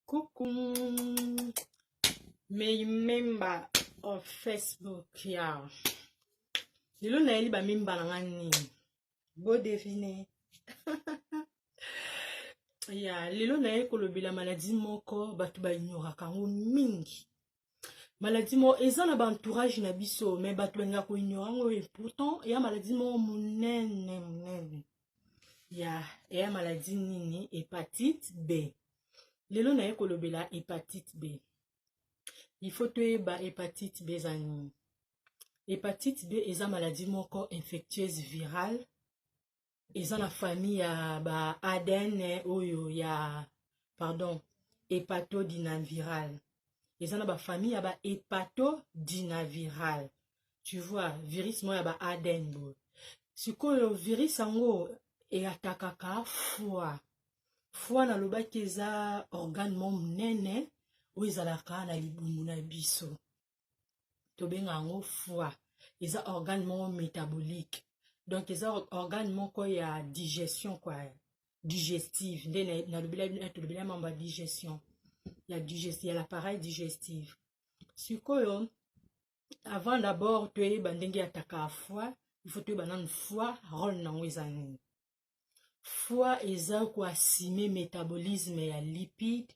Coucou. May member of Facebook ya. Lelo nayeli ba mimba na nga nini? Bo devine. ya lelo naye kolobela maladi moko bato baignoraka yango mingi maladie moko eza na baentourage na biso me bato balinga koignore yango e pourtant eya maladie moko monene monene ya eya maladie nini hepatite b lelo naye kolobela hepatite b il faut toyeba hepatite b eza nini hepatite b eza maladie moko infectieuse virale eza na famille ya ba adn oyo ya pardon epato dinaviral eza na bafamille ya ba epato dinaviral tu vois virus moko ya ba adn boye sikoyo virus yango eatakaka foi foi nalobaki eza organe mo monene oyo ezalaka na libumu na biso tobenga yango foie eza organe moko métabolique donc eza organe moko ya digestion kua digestive nde natolobela mambo ya digestion ya digesti ya l'appareil digestive sikoyo avant d'abord toyeba ndenge ya taka foi il faut toyeba nanu foi role nango eza nini foi eza koasime métabolisme ya lipide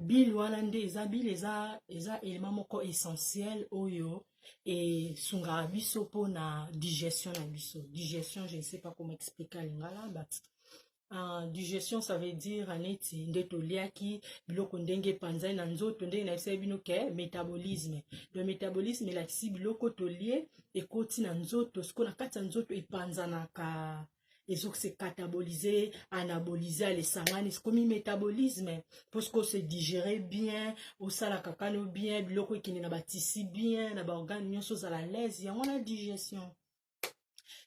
bile wana nde eza bile eza eza elema moko essentiel oyo esungaka biso mpona digestion na biso digestion je ne sais pas comment expliquer en lingala but Uh, digestion ça veut dire neti nde toliaki biloko ndenge epanzani na nzoto ndenge nayebisaki bino ke métabolisme le métabolisme elakisi biloko tolie ekoti na nzoto sikoyo na kati ya nzoto epanzanaka ezoki se catabolize anabolize alesangani komi métabolisme mposke ose digere bien osalaka kano bien biloko ekende na batisi bien na baorgane nyonso ozala laise yango na digestion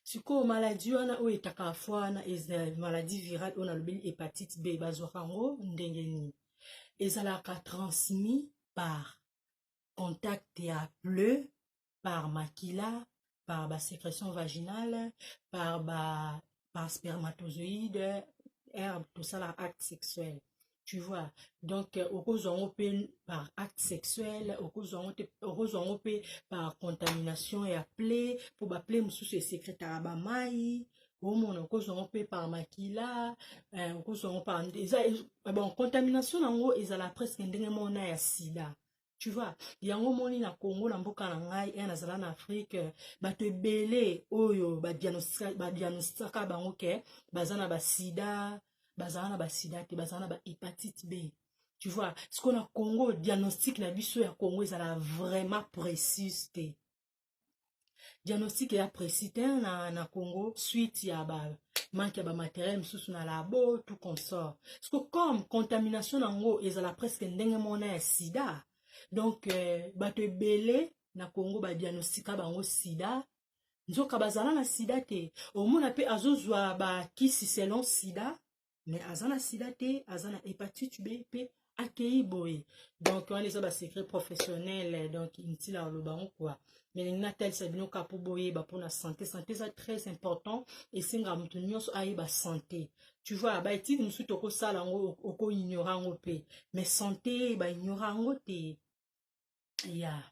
sikoyo maladi wana oyo etaka fo wana maladi virale oyo nalobeli hepatite b bazwaka yango ndenge nini ezalaka transmis par contact ya pleu par makila par ba sécrétion vaginale par ba par spermatozoïde herbe tosala acte sexuel tu vois donc euh, okozwa yango mpe par acte sexuel okozwa yango te okozwa yango mpe par contamination ya ple mpo baple mosusu esekretaka bamai omona okozwa yango mpe par makila euh, okozwa yango par eza bon contamination na yango ezala presque ndenge moko na ya sida tu vois yango moni na congo na mboka na ngai e nazala na afrike bato ebele oyo badianosaka bango ke baza na basida bazala na basida te bazala na bahepatite b tu vois sikoyo na congo diagnostic na biso ya congo ezala vraiment précise te diagnostic ya précis te na, na congo suite ya ba manque ya bamateriel mosusu na labo tout consort parceque comme contamination na yango ezala presque ndenge mona ya sida donc euh, bato ebele na congo badiagnostika bango sida nzoka bazala na sida te omona mpe azozwa bakisi selon sida mais aza na sida te aza na hepatite b mpe akei boye donc wana eza basecret professionnel donc intila aloba yango kua mais lingi natalisa bino kaka mpo boyeba mpona sante sante eza très important esengaka moto nyonso ayeba sante tu vois baetide mosusu tokosala yango okoignora yango mpe mais sante baignora yango te ya yeah.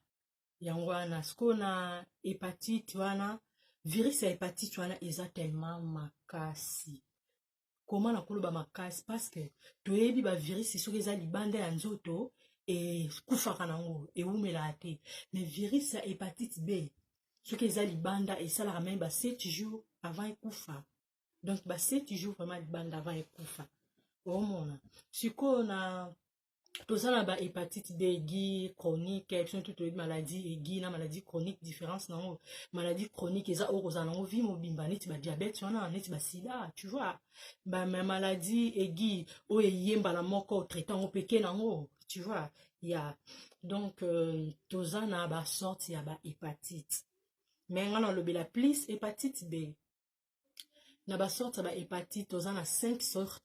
yango wana sikoyo na hepatite wana virus ya hepatite wana eza tellement makasi koma na koloba makasi parceke toyebi bavirisi soki eza libanda ya nzoto ekufaka nango ewumelaka te mais virisi ya hepatite b soki eza libanda esalaka meme ba 7 jours avant ekufa donc ba 7 jours vraiment libanda avant ekufa omona sikoyo na toza na ba hepatite b aiguë chronique biso tout toyebi maladie aiguë na maladie chronique différence na yango maladie chronique eza oyo kozala nango vie mobimba neti badiabete wana neti basida tu vois ba maladie aiguë oyo eye mbala moko traite yango peke na yango tu vois ya yeah. donc euh, toza na basorte ya bahepatite me ngai nalobela plus hepatite b na ba sorte ya ba hepatite toza na 5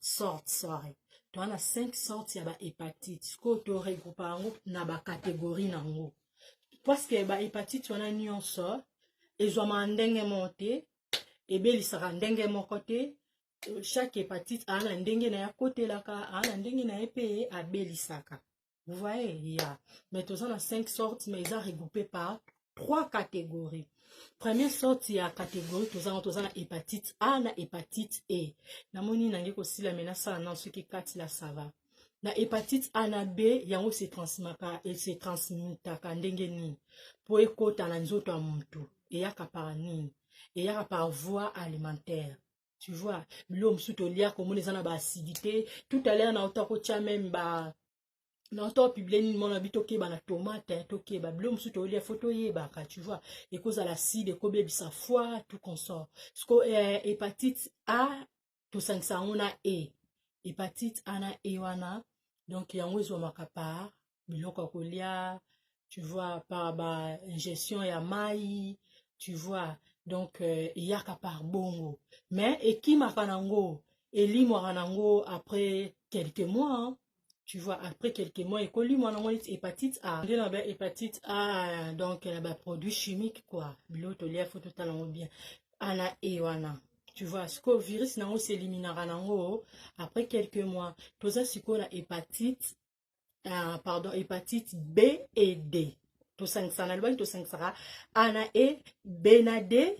sorte sorry toza na 5 sorte ya ba hepatite sikoyo to regroupa yango na ba categorie na yango parceke ba hepatite wana nyonso ezwamaka ndenge moko te ebelisaka ndenge moko te chaque hepatite aa na ndenge na ye akotelaka aa na ndenge na ye mpe abelisaka vous voyez ya yeah. mais toza na 5 sortes mais eza regroupe par trois catégories première sorte ya catégorie toza ngo toza na hépatite a na hépatite e namoni nange kosila me nasala nano soki kati la sava na hépatite a na b yango se transmaka e se transmitaka ndenge nini mpo ekota na nzoto ya motu eyaka par nini eyaka par voie alimentaire tu vois biloko mosusu tolia komona eza na ba acidité tout à l'heure na ota kotya meme ba na ota opiblie nini mwana bi tokeba na tomate tokeba biloko mosusu tolia fo toyebaka tu vois ekozala acide ekobebisa foi tout consort sco eh, hepatite a tosangisa yango na e hepatite a na e wana donc yango ezwamaka par biloko ya kolia tu vois par ba ingestion ya mai tu vois donc euh, eyaka par bongo mais ekimaka nango elimwaka nango après quelques mois hein. tu vois après quelques mois ekolimwa nango neti hépatite a nde na ba hépatite a donc na ba produit chimique quoi biloko tolia fo totala yango bien ana e wana tu vois sikoyo virus nango s'eliminaka nango après quelques mois toza sikoyo na hépatite uh, pardon hepatite b et d tosangisaka nalobaki tosangisaka a na e b na d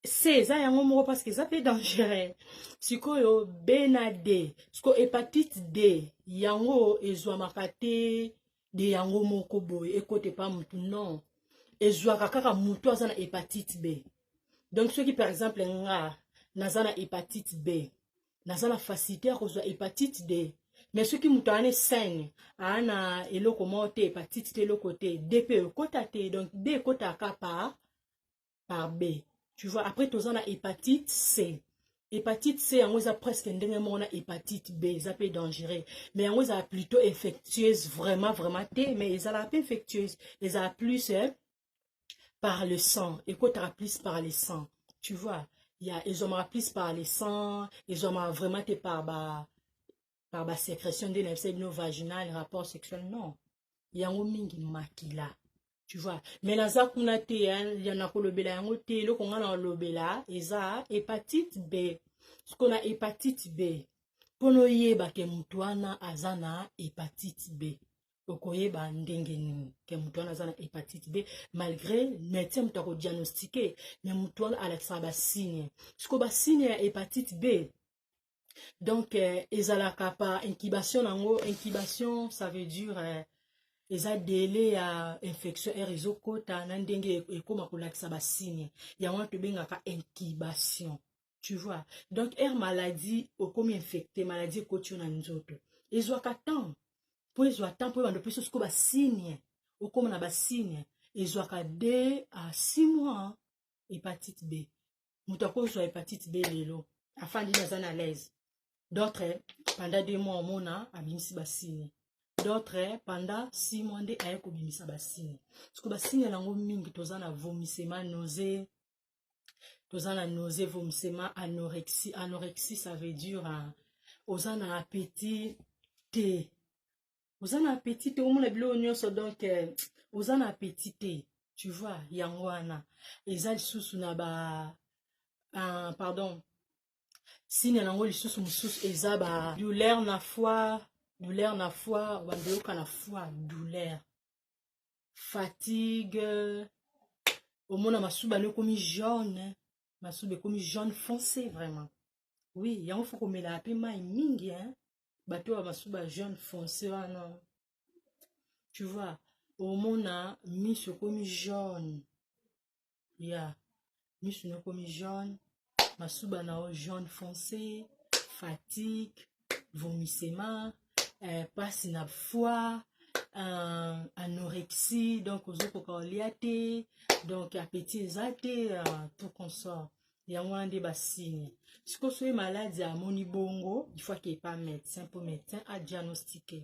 c eza yango moko parce que eza mpe dangereux sikoyo b na d sikoyo hepatite d yango ezwamaka te de yango moko boye ekota epa motu non ezwaka kaka motu aza na hepatite b donc soki par exemple nga naza na hepatite b naza na facilité ya kozwa hepatite d mais soki moto aa ne saine aa na eloko moko te hepatite te eloko te d mpe ekota te donc d ekotaka ka par par b tu vois après toza na hepatite c hepatite c yango eza presque ndenge moko na hepatite b eza mpe dangereux mais yango ezala plutôt infectieuse vraiment vraiment te mais ezalaka mpe infectieuse ezala plus eh, par le sang ekotaka plus par le sang tu vois ya ezwamaka plus par le sang ezwamaka vraiment te par ba par ba sécrétion nde nayebisa bino vaginal rapport sexuel non yango mingi makila tu vois mais naza kuna te ya nakolobela yango te eloko ngai nakolobela eza hepatite b soko na hepatite b mpo noyeba ke moto wana aza na hepatite b okoyeba ndenge nini ke moto wana aza na hepatite b malgré médecin moto akodiagnostike me moto wana alakisaka basigne siko basigne ya hepatite b donc euh, ezalaka par incubation na yango incubation ça veut dire euh, eza dele ya infection r ezokota na ndenge ekóma kolakisa basigne yango wana tobengaka incubation tu vois donc air maladie okomi infecte maladie ekoti yo na nzoto ezwaka temps mpo ezwa temps mpo ebanda opesa siko basigne okoma na basigne ezwaka de a six mois hepatite b moto akozwa hepatite b lelo afandi naza na laise d'autres pendant deux mois omona abimisi basigne d'autres pendant six mois nde aye kobimisa basigne siko basigne yango mingi toza na vomissema nausee toza na nausée vomissement anorexie anorexie ça veut dire hein, oza na appétit te oza na appétit te omona biloko nyonso donc euh, oza na appétit te tu vois yango wana eza lisusu na ba uh, pardon sine nango lisusu mosusu eza ba douleur na foi douleur na foi bandoyoka na foi douleur fatigue omona masuba no ekomi jaune masuba ekomi jaune foncé vraiment oui yango fo komelaka mpe mai mingi hein? bato oyo bamasuba jaune foncé wana tu vois omona miso ekomi jaune ya misu na ekomi jaune masuba na yo jaune foncé fatigue vomissement eh, pasi na foie euh, anorexie donc ozokoka olia te donc appétit eza te euh, tout consort yango wana nde basigne sikoyo soki maladi amoni bongo il faut ake epa médecin mpo médecin adiagnostique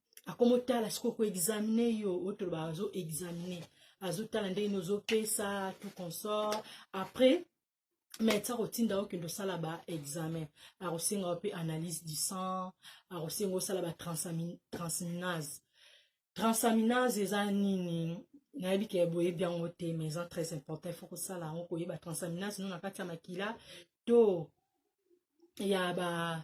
akomotala sikoyo koexamine yo oyo tolobaka azo examine azotala ndenge nini ozopesa tout consort après mais ti akotinda yo kende osala baexamen akosenga yo mpe analyse du sang akosenga osala batransaminase transaminase eza nini nayebi ke boyebi yango te mais eza très important il faut kosala yango koyeba transaminase no na kati ya makila to ya ba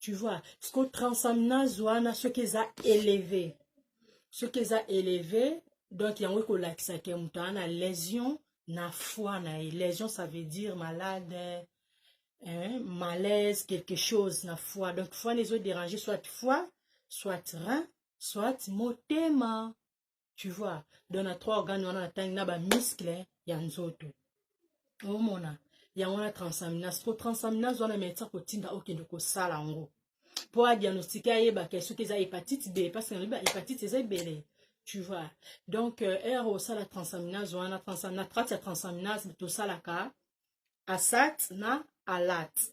tu vois siko transamnase wana soki eza eleve soki eza eleve donc yango ekolakisa ke moto aa na lésion na foi na ye lésion ça veut dire malade hein, malaise quelque chose na foi donc foi na ezoderange soit foi soit rein soit motema tu vois donc na trois organe wana natangi na bamiskle ya nzoto omona yango wana transaminase po transaminase wana meti akotinda okende kosala yango mpo adiagnostike ayebaka soki eza hepatite b parce que na hepatite eza ebele tu vois donc euh, heure osala transaminase wana na kati ya transaminase tosalaka asat na alate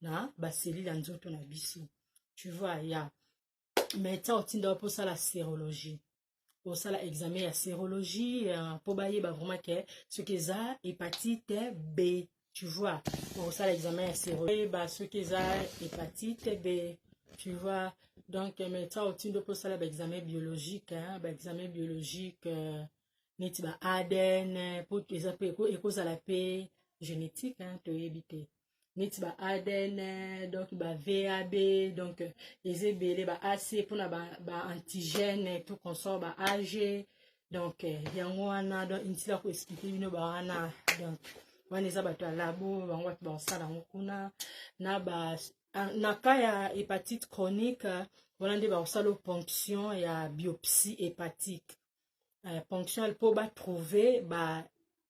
na baselile ya nzoto na biso tu vois ya mais ntango otinda wapi osala serologie osala examen ya serologie mpo euh, bayeba vraiment ke soki eza hepatite b tu vois okosala examen ya serologie oyeba soki eza hepatite b tu vois donc euh, mais ntango otinda mpo osala baexamen biologique baexamen biologique euh, neti ba adn mpo eza mpe ekozala mpe génétique toyebi te neti ba adn donc ba vab donc eza ebele ba ac mpona ba, ba antigène tout consort ba ag donc yango wana donc intila koexplike bino bawana donc wana eza bato ya labo bango bato bakosala yango kuna na ba na cas ya hepatite chronique wana nde bakosala ponction ya biopsie hépatique euh, ponction po batrouve ba